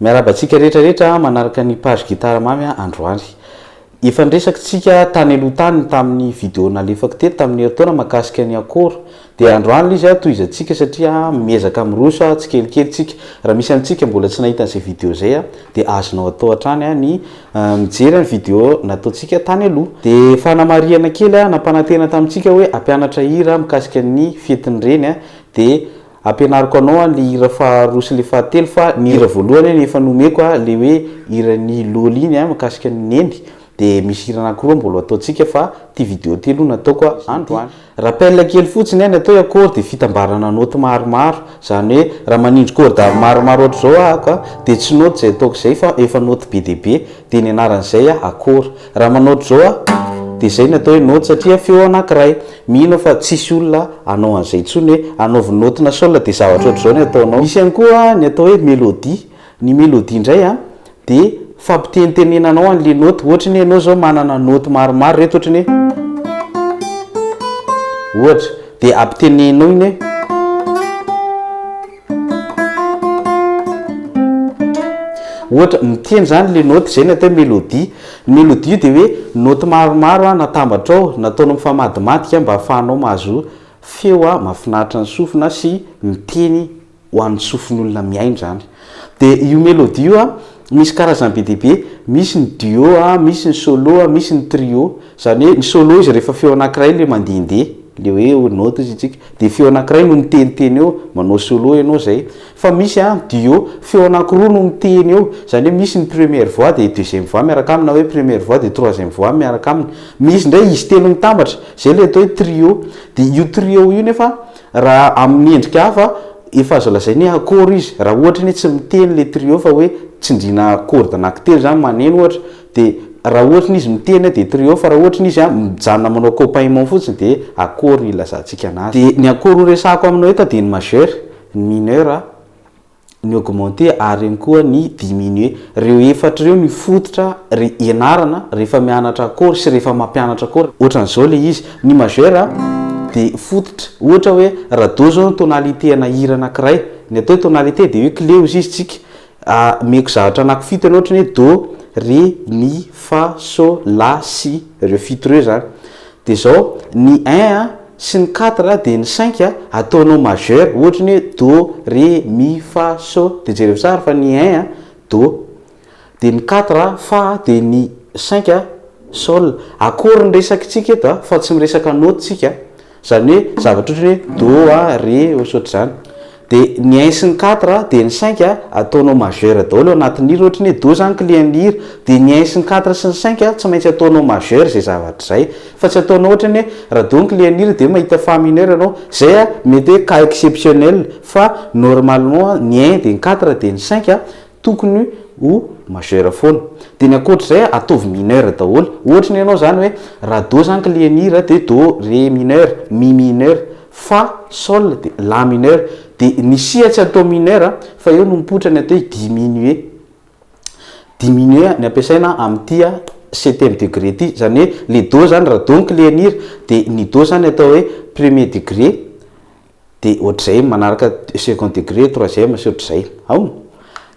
Miarahaba antsika rehetra rehetra manaraka ny page Gitara Mamy androany. Efa niresaka tsika tany aloha tany tamin'ny video nalefako teto tamin'ny herintaona mahakasika ny akora. Dia androany ilay izy tohizantsika satria miezaka miroso tsikelikely tsika. Raha misy amintsika mbola tsy nahita an'izay video izay dia azonao atao hatrany ny mijery ny video nataontsika tany aloha. Dia fanamarihana kely nampanantena tamintsika hoe hampianatra hira mikasika ny fetin'ny reny dia Ampianariko anao an le hira faha roa sy le faha telo fa ny hira voalohany an efa nomeko an le hoe hiran'i Lôly iny an mikasika ny Neny de misy hira anakiroa mbôla ataontsika fa ty video ty aloha nataoko androany. Rappel kely fotsiny an atao hoe accord de fitambarana note maromaro zany hoe raha manindry corde maromaro ohatra zao ahako an de tsy note zay ataoko zay fa efa note be dia be de ny anaran'izay an accord raha manao ohatra zao an de zay no atao hoe note satria feo anakiray Mino aho fa tsisy olona hanao an'izay intsony hoe hanaovy naoty na sol dia zavatra ohatr'izao ny ataonao. Misy ihany koa ny atao hoe melodie. Ny melodie indray an, dia fampitenitenenanao an'ilay naoty. Ohatra ny hoe ianao izao manana naoty maromaro ireto ohatra ny hoe. Ohatra, dia ampiteneninao iny hoe. Ohatra, ny tiany izany le naoty, izay ny atao hoe mélodie. Ny mélodie io dia hoe naoty maromaro natambatra ao, nataonao mifamadimadika mba hahafahanao mahazo feo mahafinaritra ny sofina sy miteny ho an'ny sofin'olona mihaino izany. Dia io mélodie io. Misy karazany be dia be, misy ny duo a, misy ny solo a, misy ny trio. Izany hoe ny solo izy rehefa feo anankiray ilay mandehandeha, ilay hoe eo note hozy isika, dia feo anankiray no miteniteny eo, manao solo ianao izay. Fa misy an, duo, feo anankiroa no miteny eo, izany hoe misy ny première voix dia deuxième voix miaraka aminy na hoe première voix dia troisième voix miaraka aminy. Misy indray izy telo mitambatra, izay ilay atao hoe trio. Dia io trio io nefa Raha amin'ny endrika hafa, efa azo lazaina hoe akôro izy. Raha ohatra ny hoe tsy miteny le trio fa hoe tsindriana corde na kiteny zany maneno ohatra de raha ohatra ny izy miteny de trio fa raha ohatra ny izy mijanona manao accompagnement fotsiny de akôro no ilazantsika anazy. De ny akôro horesahako aminao eto de ny majeur, ny mineur, ny augmenter ary eo koa ny diminuer. Reo efatra reo no fototra ry ianarana rehefa mianatra accord sy rehefa mampianatra accord. Ohatrany zao le izy, ny majeur de fototra, ohatra hoe ra do zao ny tonalité ana hira anakiray, ny atao hoe tonalité de hoe clé ozy izy tsika, ameko zavatra anaky fito enao ohatrany hoe do, ré, mi, fa, so, la, si, reo fito reo zany. Dia zao, ny un a, sy ny quatre a, dia ny cinq a, ataonao majeur, ohatra ny hoe do, ré, mi, fa, so, dia jereo tsara fa ny un a, do, dia ny quatre a, fa, dia ny cinq a, sol, akory ny resakitsika eto a, fa tsy miresaka note tsika, zany hoe zavatra ohatra ny hoe do a, ré, ohatrohatr'izany. De ny un sy ny quatre de ny cinq ataonao majeur daholo ao anatin'ny hira ohatra ny hoe do zany client ny hira de ny un sy ny quatre sy ny cinq tsy maintsy ataonao majeur izay zavatra izay fa tsy ataonao ohatra ny hoe raha do ny client ny hira de mahita fa mineur ianao zay a mety hoe cas exceptionnel fa normalement ny un de ny quatre de ny cinq tokony ho majeur foana dia ny ankoatr'izay ataovy mineur daholo ohatra ny anao zany hoe raha do zany kle ny hira dia do re mineur mi mineur fa sol dia la mineur dia ny si tsy atao mineur fa eo no mipoitra ny atao hoe diminuer diminuer ny ampiasaina amin'ity septième degré ity izany hoe le do zany raha do ny kle ny hira dia ny do zany atao hoe premier degré de ohatr'izay manaraka second degré, troisième sy ohatr'izay, aona?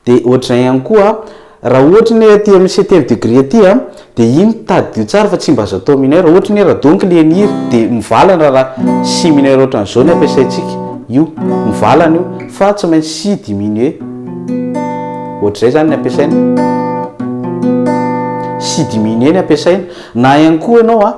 de ohatr'izay ihany koa raha ohatra anie aty amin'ny septième degré aty a de iny tadidio tsara fa tsy mba azo atao mineur, ohatra anie raha donc le ny hira de mivalana raha si mineur ohatran'izao no ampiasaintsika, io mivalana io fa tsy maintsy si diminué, ohatr'izay zany ny ampiasaina, si diminué ny ampiasaina, na ihany koa ianao a.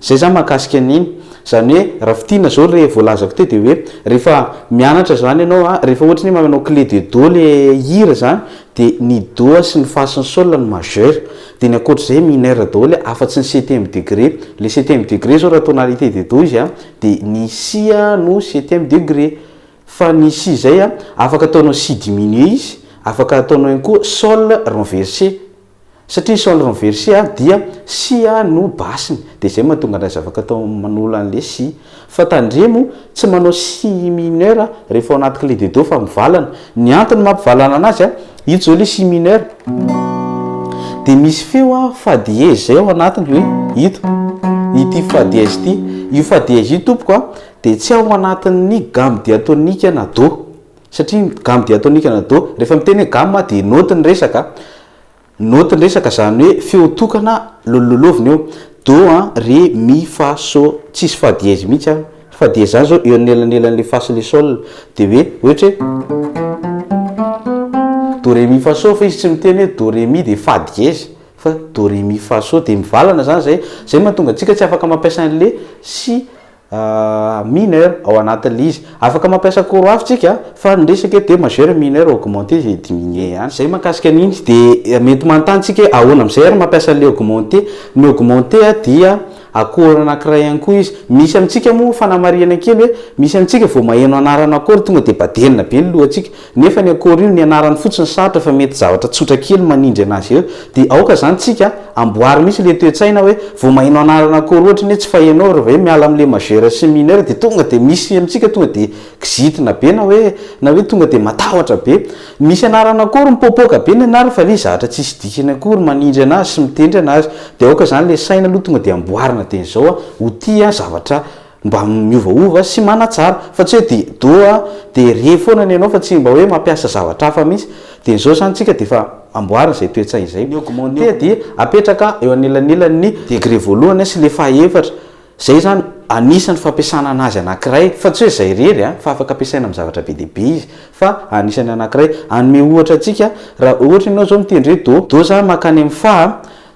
Zay zany mahakasika an'iny. Zany hoe Rafitina zao le voalazako teo de hoe rehefa mianatra zany ianao a, rehefa ohatry ny hoe manao clé de do le hira zany de ny do sy ny fa sy ny sol no majeur de ny ankoatr'izay mineur daholo a afa-tsy ny septième degré. Le septième degré zao raha tonalité de do izy a de ny si a no septième degré fa ny si zay a afaka ataonao si diminué izy, afaka ataonao ihany koa sol renversé. Satria ny solr ny verset a dia si a no basiny dia izay mahatonga an'ilay zavatra atao manolo an'le si. Fa tandremo tsy manao si mineur rehefa ao anaty clé de do fa mivalana. Ny antony mampivalana anazy a, ito zao le si mineur dia misy feo a fa dièse zay ao anatiny hoe ito, ity fa dièse ity. Io fa dièse io tompoko a dia tsy ao anatin'ny gamme diatonique na do. Satria ny gamme diatonique na do, rehefa miteny hoe gamme aho dia naoty ny resaka, naoty ny resaka izany hoe feo tokana lololovina eo, do an, re, mi, fa, so, tsisy fa dièse mihitsy an, ry fa dièse izany izao eo anelanelan'ilay fa sy ilay sol, dia hoe ohatra hoe do re mi fa so fa izy tsy miteny hoe do re mi dia fa dièse fa do re mi fa so dia mivalana izany izay, izay no mahatonga antsika tsy afaka mampiasa an'ilay si mineur ao anatin'ilay izy. Afaka mampiasa cours hafa tsika fa ny resaka eto dia majeur, mineur, augmenté et diminué ihany. Zay mahakasika an'iny dia mety manontany tsika hoe ahoana amin'izay ary mampiasa an'ilay augmenté. Ny augmenté dia accord anankiray ihany koa izy. Misy amintsika moa fanamarihana kely hoe misy amintsika vao maheno anarana accord tonga dia badelina be ny lohantsika. Nefa ny akory io nianarany fotsiny sarotra fa mety zavatra tsotra kely manindry anazy eo dia aoka zany tsika amboary mitsy le toetsaina hoe vo maheno anarana akory ohatry ny hoe tsy fahenao rva hoe miala amle majeur sy mineur dia tonga dia misy amitsika tonga dia kizitina be na hoe na hoe tonga dia matahotra be misy anarana akory mipopoka be ny anarany fa le zahatra tsisy dikany akory manindry anazy sy mitendry anazy dia aoka zany le saina aloha tonga dia amboarina dia ny zao a ho tia zavatra mba miovaova sy manatsara fa tsy hoe de do a de re foana ny anao fa tsy mba hoe mampiasa zavatra hafa mihitsy de izao zany tsika de efa amboarina izay toe-tsaina izay ny augmenter dia apetraka eo anelanelan' ny degré voalohany sy le fahaefatra izay zany anisan' ny fampiasana anazy anankiray fa tsy hoe izay irery a fa afaka ampiasaina amin' ny zavatra be dia be izy fa anisan' ny anankiray hanome ohatra antsika raha ohatra ianao izao mitendry hoe do do za makany amin' ny fa a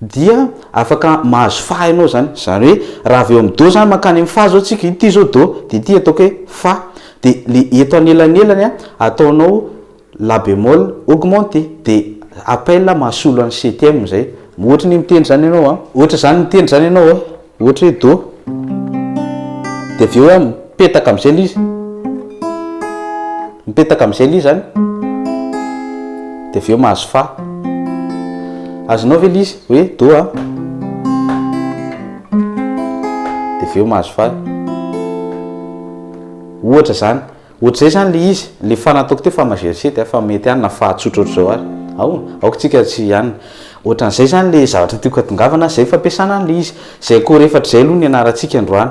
dia afaka mahazo fa ianao izany, izany hoe raha avy eo amin'ny do izany mankany amin'ny fa izao isika, ity izao do, dia ity ataoko hoe fa, dia ilay eto anelanelany ataonao la bémol augmenté, dia appel mahasolo an'ny septième izay, ohatry ny mitendry izany ianao an, ohatra izany mitendry izany ianao an. Ohatra hoe Do. Dia avy eo hoe mipetaka amin'izay ilay izy. Mipetaka amin'izay ilay izy izany. Dia avy eo mahazo Fa. Azonao ve ilay izy hoe Do a? Dia avy eo mahazo Fa. Ohatra izany. Ohatr'izay izany ilay izy, ilay faha nataoko teo faha majercet a, fa mety ihany na faha tsotra ohatr'izao ary. Ao, aoka tsika tsy hianina. Ohatran'izay izany ilay zavatra tiako hatongavana, izay fampiasana an'ilay izy. Izay accord efatra izay aloha no ianarantsika androany.